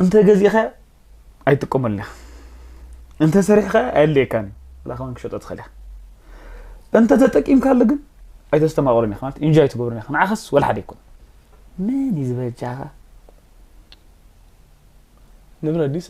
እንተ ገዚእኻዮ ኣይጥቀመሉን ኢኻ እንተ ሰሪሕኻዮ ኣየድልየካን እዩ ብላ ከማን ክሸጦ ትኽእል ኢኻ እንተ ተጠቂምካሉ ግን ኣይተስተማቕሩን ኢኻ ማለት ኢንጆ ኣይትገብሩን ኢኻ ንዓኸስ ወላ ሓደ ኣይኮነ መን እዩ ዝበጃኻ ንብረ ዲሰ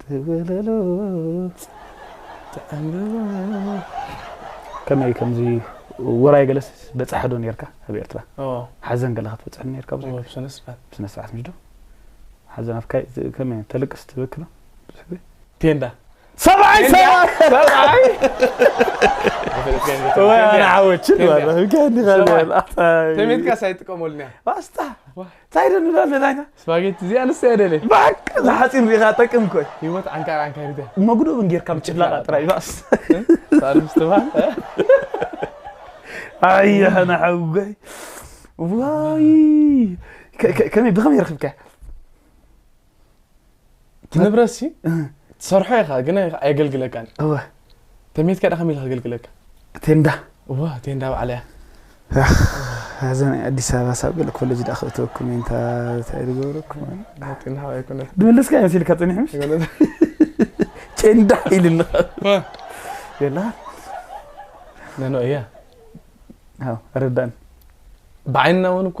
ትብለሉ ከመይ ከምዚ ውራይ ገለስ በፃሒ ዶ ነርካ ኣብ ኤርትራ ሓዘን ገለ ክትበፅሕ ነርካ ብስነ ስርዓት ምሽ ዶ ሓዘን ኣፍካ ከመይ ተልቅስ ትበኪ ዶ ብዙሕ ግዜ ቴንዳ ሰብዓይ ሰብዓይ ወይ ኣነ ዓወችን ተሜትካ ሳይጥቀመሉኒ ኣስታ እንታይ ዶ ንብል ኣለና ኢና ስፓጌቲ እዚኣ ንሳ እየ ደልየ ባቅ ዝሓፂን ሪኢኻ ጠቅም ኮይ ህይወት ዓንካር ዓንካሪት እያ መጉዶብን ጌርካ ምጭፍላቓ ጥራይ ባስ ሳልም ስትባል ኣያና ሓውጎይ ዋይ ከ- ከ- ከመይ ብኸመይ ረኽብካያ ትንብረት ሲ ትሰርሖ ኢኻ ግን ኣየገልግለካን እወ ተሜትካ ዳ ከመይ ኢሉ ከገልግለካ ቴንዳ እወ ቴንዳ ባዕላ እያ እዛ ናይ ኣዲስ ኣበባ ሳብ ገለ ኮሌጅ ዳ ክእተወኩም እየ እንታ እንታይ ዝገብረኩም መጢንሃ ኣይኮነ ድመለስካ እየ መሲልካ ፀኒሕ ምሽ ቴንዳ ኢልኒ የላ ነኖ እያ ረዳን ብዓይንና እውን እኮ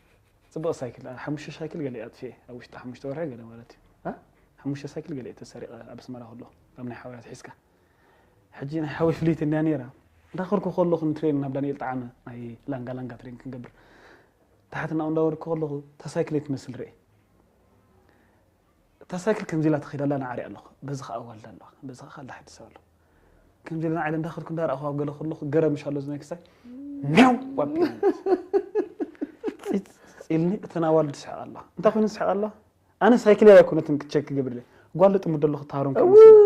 ጽብቕቲ ሳይክል እያ። ሓሙሽተ ሳይክል ገለ ኣጥፊኤ ኣብ ውሽጢ ሓሙሽተ ወርሒ ገለ ማለት እዩ። ሓሙሽተ ሳይክል ገለ ተሰሪቐ ኣብ ኣስመራ ከለኹ ካብ ናይ ሓውያ ትሒዝካ ሕጂ ናይ ሓወይ ፍልይቲ እንድያ ነይራ እንዳኸርኩ ከለኹ ንትሬን ናብ ዳንኤል ጣዓመ ናይ ላንጋ ላንጋ ትሬን ክንገብር ታሕቲ ናብኡ እንዳወርድኩ ከለኹ እታ ሳይክል ትመስል ርኤ እታ ሳይክል ከምዚ ኢላ ትኸይድ ኣላ ንዓርያ ኣለኹ፣ በዚ ኸኣ ኣዋልድ ኣለዋ፣ በዚ ኸኣ ካልእ ሓዲ ሰብ ኣሎ። ከምዚ ኢለ ንዓሊ እንዳኸድኩ እንዳረኣኹ ኣብ ገለ ከለኹ ገረም ምሽ ኣሎ ዝናይ ክስታይ ሜው ኣቢሉኒ ጺጽ ኢልኒ፣ እተን ኣዋልድ ይስሕቓ ኣለዋ። እንታይ ኮይነን ዝስሕቓ ኣለዋ? ኣነ ሳይክለይ ኣይኮነትን ክቸክ ክገብር ኢለ ጓል ልጥምዶ ኣለኹ ታሮን ከም መሲላ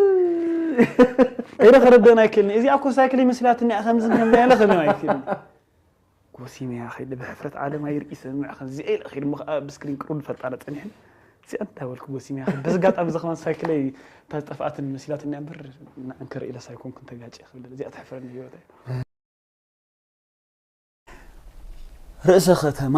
ኢለ ከረድኤን ኣይክእልን'የ። እዚኣ እኮ ሳይክለይ መሲላትኒ እያ ከምዝን ከምዝን ኢለ ከብዮም ኣይክእልን'የ። ጎሲመያ ከይደ ብሕፍረት ዓለም ኣይርኢ ሰምዕ ከምዚኣ ኢለ ከይደ እሞ ከዓ ብስክሪን ቅርብ ንፈልጣ ነፀኒሐን እዚኣ እንታይ በልኩ ጎሲመያ ከይደ በዚ ኣጋጣሚ እዚ ከማን ሳይክለይ እታ ዝጠፍኣትን መሲላትኒ እምበር ንዕንክር ኢለስ ኣይኮንኩን ተጋጭ ክብል እዚኣ ተሕፍረኒ ህይወት ርእሰ ከተማ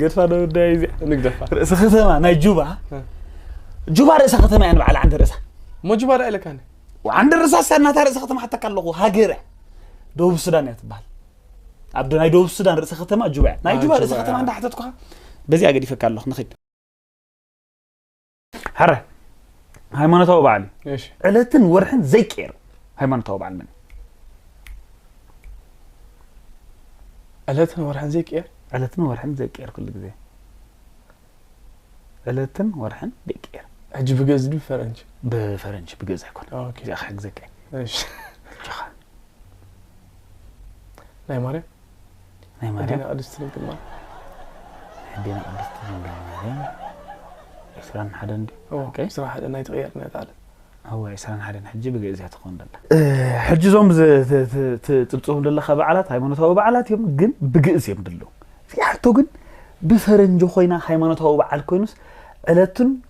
ገድፋ ዶ ጉዳይ እዚኣ ንግደፋ ርእሰ ከተማ ናይ ጁባ ጁባ ርእሰ ከተማ እያ ንበዓል ዓንደ ርእሳ እሞ ጁባ ዳ ኢለካኒ ዓንደ ርእሳ ሳ ናታ ርእሰ ከተማ ሓተካ ኣለኹ ሃገር እያ ደቡብ ሱዳን እያ ትበሃል ኣብ ናይ ደቡብ ሱዳን ርእሰ ከተማ ጁባ እያ ናይ ጁባ ርእሰ ከተማ እንዳሓተትኩኻ በዚኣ ገዲፈካ ኣለኹ ንኽድ ሕረ ሃይማኖታዊ በዓል እዩ እሺ ዕለትን ወርሕን ዘይቀየር ሃይማኖታዊ በዓል መን እዩ? ዕለትን ወርሕን ዘይቅየር ዕለትን ወርሕን ዘይቀየር ኩሉ ግዜ ዕለትን ወርሕን ዘይቀየር ሕጂ ብገዝ ድዩ ፈረንጂ ብፈረንጂ ብገዛ ይኮነ ኦኬ እዚኣ ክሕግዘካ እየ እሺ ጀኻ ናይ ማርያም ናይ ማርያም ቅድስት ድንግል ማርያም ሕዴና ቅድስት ድንግል ማርያም ዕስራን ሓደን ዕስራ ሓደ ናይ ትቕየር ነጣለ እወ ዕስራን ሓደን ሕጂ ብግእዝ እያ ትኸውን ደላ ሕጂ እዞም ትፅብፅቦም ዘለካ በዓላት ሃይማኖታዊ በዓላት እዮም ግን ብግእዝ እዮም ድለው እዚኣቶ ግን ብፈረንጂ ኮይና ሃይማኖታዊ በዓል ኮይኑስ ዕለቱን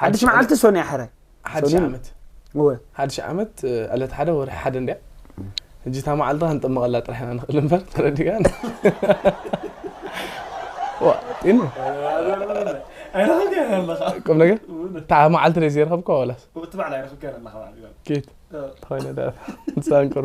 ሓድሽ መዓልቲ ሶንያ ሕረ ሓድሽ ዓመት እወ ሓድሽ ዓመት ዕለት ሓደ ወርሒ ሓደ እንድያ ሕጂ እታ መዓልቲ ክንጥመቐላ ጥራሕ ኢና ንኽእል እምበር ተረዲእካ ጢኑ ቁም ነገር እታ መዓልቲ ደይ ዘይረኸብካ ወላስ ኬት ተኾይነ ዳሳንቅሩ